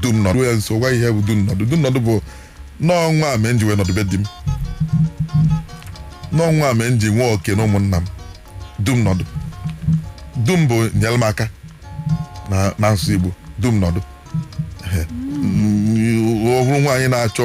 dum nọdụ ya nso gwa ihe bụ dum nọdụ dum nọdụ bụ na ọ nwa a mee m ji wee nọdụ be di m na ọ nwa a mee m ji nwee oke na ụmụnna m dum nọdụ dum bụ nyere m aka na asụsụ igbo dum nọdụ Ehe. Mm, ọ bụrụ nwaanyị na-achọ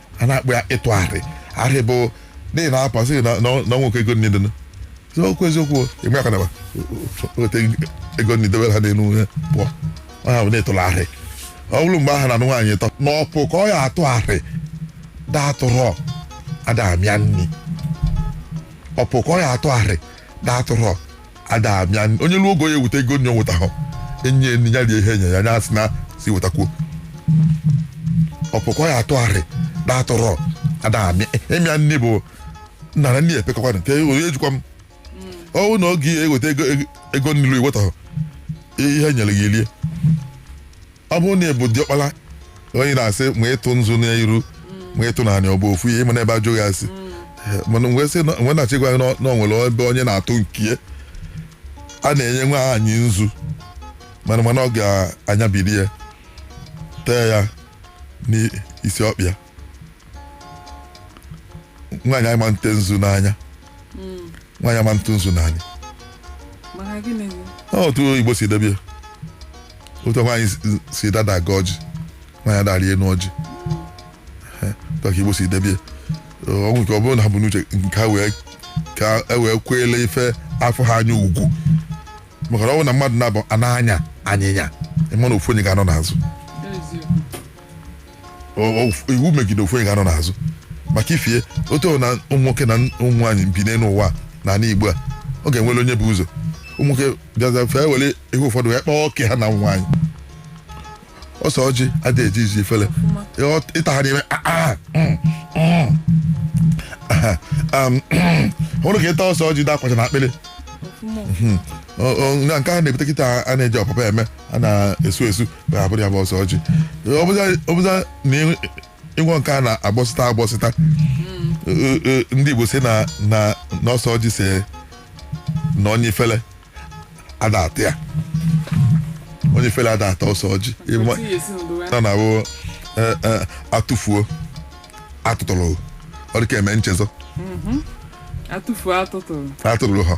a na-akpọ ya ịtụ arị arị bụ n'ihi na apa sị na na ọ nwoke ego nni dị so okwu eziokwu ịgba aka nakwa wete ego nni dobe ha n'elu ihe pụọ ọ ha bụ na-etụrụ arị ọ bụrụ mgbe ahụ a na-anụ nwaanyị tọ na ọpụ ka ọ ya atụ arị datụrọ ada amịa nni ọpụ ka ọ ya atụ arị datụrọ ada abịa onye ruo ogo ya eweta ego nni nweta ha enye enyi ya rie ihe enye ya nya sị na si wetakwuo ọpụ ka ọ ya atụ arị datụrọ ada amịa ịmịa nni bụ na na nni ya epekọkwa nke onye jikwa m ọwụ na oge ya eweta ego nni iweta ha ihe nyere gị elie ọ bụrụ na ị bụ diọkpala onye na-asị ma ị tụ nzu n'iru ma ị tụ n'anị ọ bụ ofu ihe mana ebe ajụghị asị mana mgbe sị na- mgbe na-achị gwa gị na ọ- na o nwere ebe onye na-atụ nkie a na-enye nwaanyị nzu mana mana ọ ga-anyabiri ya tee ya n'isi ọkpa ya nwaanyị ama nte nzu n'anya nwaanyị ama ntụ nzu n'anya maka gịnị Ọ otu igbo si debe ya otu nwaanyị si- si dada aga ọjị nwaanyị ada arị enu ọjị Eh, otu ka igbo si debe ya o nwere ike ọ bụrụ na ha bụ n'uche nke ha wee ka e wee kweele ife afụ ha anya ugwu maka na ọ bụrụ na mmadụ naabọ na-anya anyịnya ị ma na ofu onye ga-anọ n'azụ iwu megide ofu onye ga-anọ n'azụ maka ifie otu na ụmụ nwoke na ụmụ nwaanyị bi n'elu ụwa n'ala Igbo a ọ ga-enwere onye bụ ụzọ ụmụ nwoke bịaza fee were ihe ụfọdụ ya kpọọ oke ha na nwaanyị ọsọ ọjị adịghị ejizi ifele ịta ha n'ime hụrụ ka ịta ọsọ ọjị dị akwacha n'akpịrị na nke a na-ebute kịta a na-eji ọpapa eme a na-esu esu abụrụ ya bụ ọsọ ọjị ọ bụza- ọ bụza na ị- ịnwụ nke a na-agbọsịta agbọsịta Ee, ee, ndị Igbo sị na na na ọsọ ọjị sị na onye ifele ada ata ya onye ifele ada ata ọsọ ọjị Ịma- Otu ihe si n'ụdị wee- na na-abụ eh, eh, atụfuo atụtụrụ ọ dịka eme nchezọ atụfuo atụtụrụ atụtụrụ ha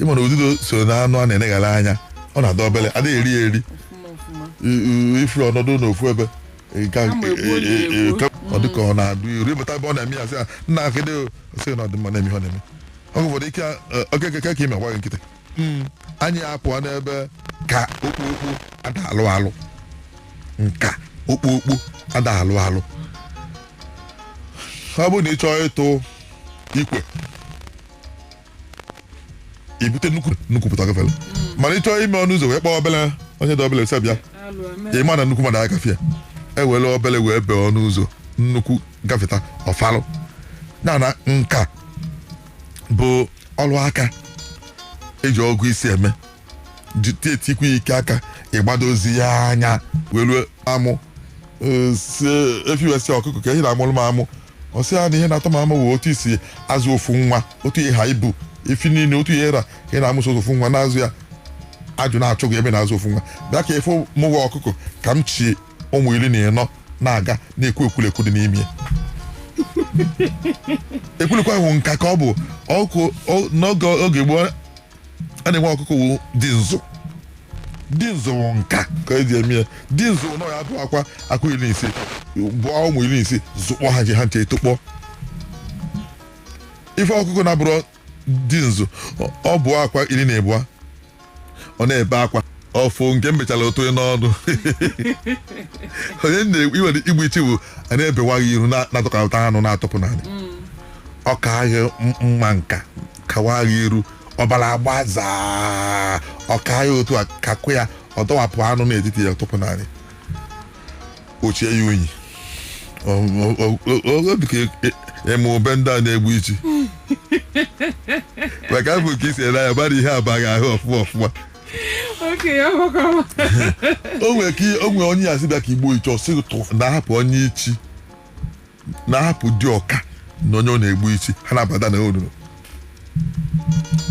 ịma na ududo so na anụ a na-eneghara anya ọ na-adị obele adị eri eri I- i- i furu ọ nọdụ n'ofu ebe ọ dịka ọ na-adụ iru ịmụta ebe ọ na-eme ya sị ya nna akịdị sị na ọdịmma na-eme ihe ọ na-eme ọ ụfọdụ ike okeke ka ime gwa gị nkịtị anyị apụọ n'ebe ka okpokpo ada alụ alụ nka okpokpo ada alụ alụ ọ bụrụ na ị chọọ ịtụ ikwe i bute nnukwu nnukwu pụta gafere mana ị chọọ ime ọnụ ụzọ wee kpọọ obele onye dị obele sị bịa ị ma na nnukwu mmadụ agafee e were obele wee bee ọnụ ụzọ nnukwu gafeta ọfalụ na na nka bụ ọrụ aka eji ọgụ isi eme tie tikwa ike aka ịgbadozi ya anya wee rụọ amụ efi wee sị ọkụkọ ke ihe ị na-amụrụ m amụ ọ sị ya na ihe na-atọ m amụ wụ otu i si azụ ofu nwa otu ị ha ibu efi niile otu ị ra ka ị na-amụ sọ ofu nwa na-azụ ya ajụ na-achụ gị ebe na-azụ ofu nwa bịa ka ị fụ mụwa ọkụkọ ka m chị ụmụ iri na ịnọ na-aga na-ekwu ekwulekwu dị n'ime ya ekwulekwu ahụ nka ka ọ bụ n'oge gboo a na-enwe ọkụkọ dị nzụ dị nzụ wụ nka ka eji eme ya dị nzụ wụ na ya bụ akwa akwa iri na ise bụọ ụmụ iri na ise zụkpọ ha ha ncha etokpọ ife ọkụkọ na-abụrụ dị nzụ ọ- ọ bụ akwa iri na abụọ ọ na-ebe akwa ọ fụ nke m bechara ọ tụọ n'ọnụ onye na-egbu iwere igbu ichi bụ a na-ebewa gị iru na- na-atụkọta anụ na-atụpụ n'ala ọ ka agha m- mma nka kawa gị iru ọbara agbazaa ọ ka ya otu a kakụ ya ọ dọwapụ anụ n'etiti ya tụpụ n'ala o chie ya unyi Ọ- ọ- ọ- ọ- obi ka e- e- eme ebe ndị a na-egbu ichi maka afọ ka isi ele anya mara ihe abaghị ahụ ọfụma ọfụma o nwere onye ya sị bịa ka e gbuo ichi ọ sị na ahapụ onye ichi na-ahapụ diọka na onye ọ na-egbu ichi ha na-abada n'olulu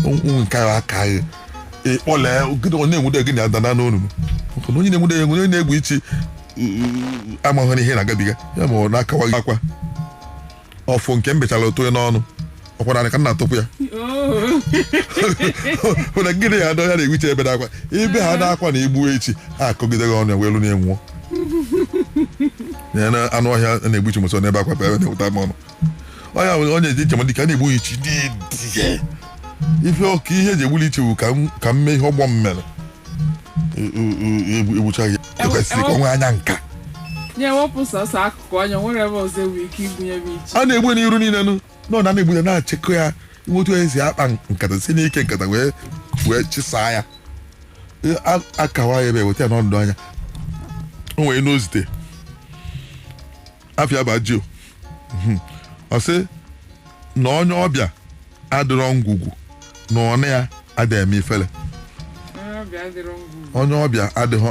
ụmụ nke ahụ aka anyị ị kpọlụ onye na-enwude gị na-adana n'olulu maka na onye na-enwude onye na-egbu ichi amaghị ihe na-agabiga ya ma ọ na-akawa gị akwa ọ fụ nke m bechara ọ tụọ ya n'ọnụ ọ kwara anụ ka m na-atụpụ ya hụ na gịnị ya adọ ya na-ewiche ebe na-akwa ibe ha na-akwa na igbu ichi ha akọgide gị ọnụ ya welụ na-enwụọ ya na anụ ọhịa a na-egbu ichi mụ sọ na-ebe akwa ebe na-ewuta m ọnụ onye ahụ onye eji njem dịka a na-egbu ichi dị dị ife ọka ihe eji egbuli ichi bụ ka m- ka m mee ihe ọgbọ m mere E- e- e- egbu- egbucha ya ekwesịrị ka ọ nwee anya nka nye wepụ sọsọ akụkụ anya nwere ebe ọzọ enwe ike igbunye m ichi a na-egbu n'iru niile nụ nọ na na-egbuda na-achịkọ ya inwe otu esi akpa nkata si n'ike nkata wee wee chịsaa ya Ee, a- akawa ya ebe weta ya n'ọdụ anya o nwere n'ozite afia bajio ọ sị na onye ọbịa adịrọ ngwugwu na ọnụ ya adịghị eme ifele onye ọbịa adịghị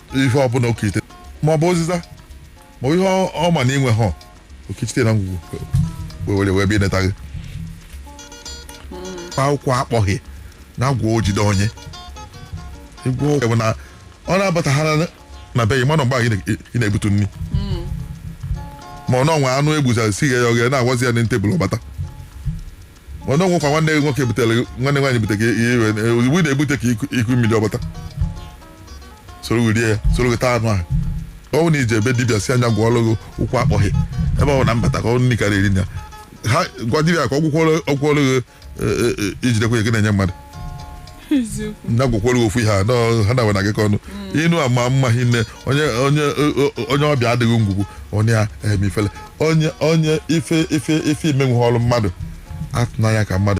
ihe ọbụla okite ma ọ bụ ụzịza ma ọ bụ ihe ọ- ọ ma na inwe ha o kechite na ngwugwu wee were wee bịa neta gị akwụkwọ akpọghị na agwa ojide onye ịgwa ọgwụ bụ na ọ na-abataghara na- na be gị mana mgbe ahụ ị na- ị na-ebutu nri ma ọ na o nwe anụ egbuzara si ghe ya oghe na-agwazi ya na tebụl ọ bata mana o nwekwa nwanne gị nwoke butere gị- nwanne nwaanyị bute gị ihe iwe na- ozugbo ị na-ebute ka iku- iku mmiri ọ bata soro gị rie ya soro gị taa anụ ahụ ọ bụrụ na i je be dibịa sị ya gwọọrọ gị ụkwụ akpọghị ebe ọ bụ na mbata ka ọ nri karịa eri na ha gwa dibịa ka ọ gwọkwọrọ ọ gwọkwọrọ gị e, e, e, ijidekwa ya gị na-enye mmadụ na gwakwara ofu ihe a nọ- ha na-agwa na gị ka ọnụ ịnụ a ma mma hinne onye onye o- o- onye ọbịa adịghị ngwugwu onye a eme ifele onye onye ife ife ife i menwughịrị mmadụ atụna anya ka mmadụ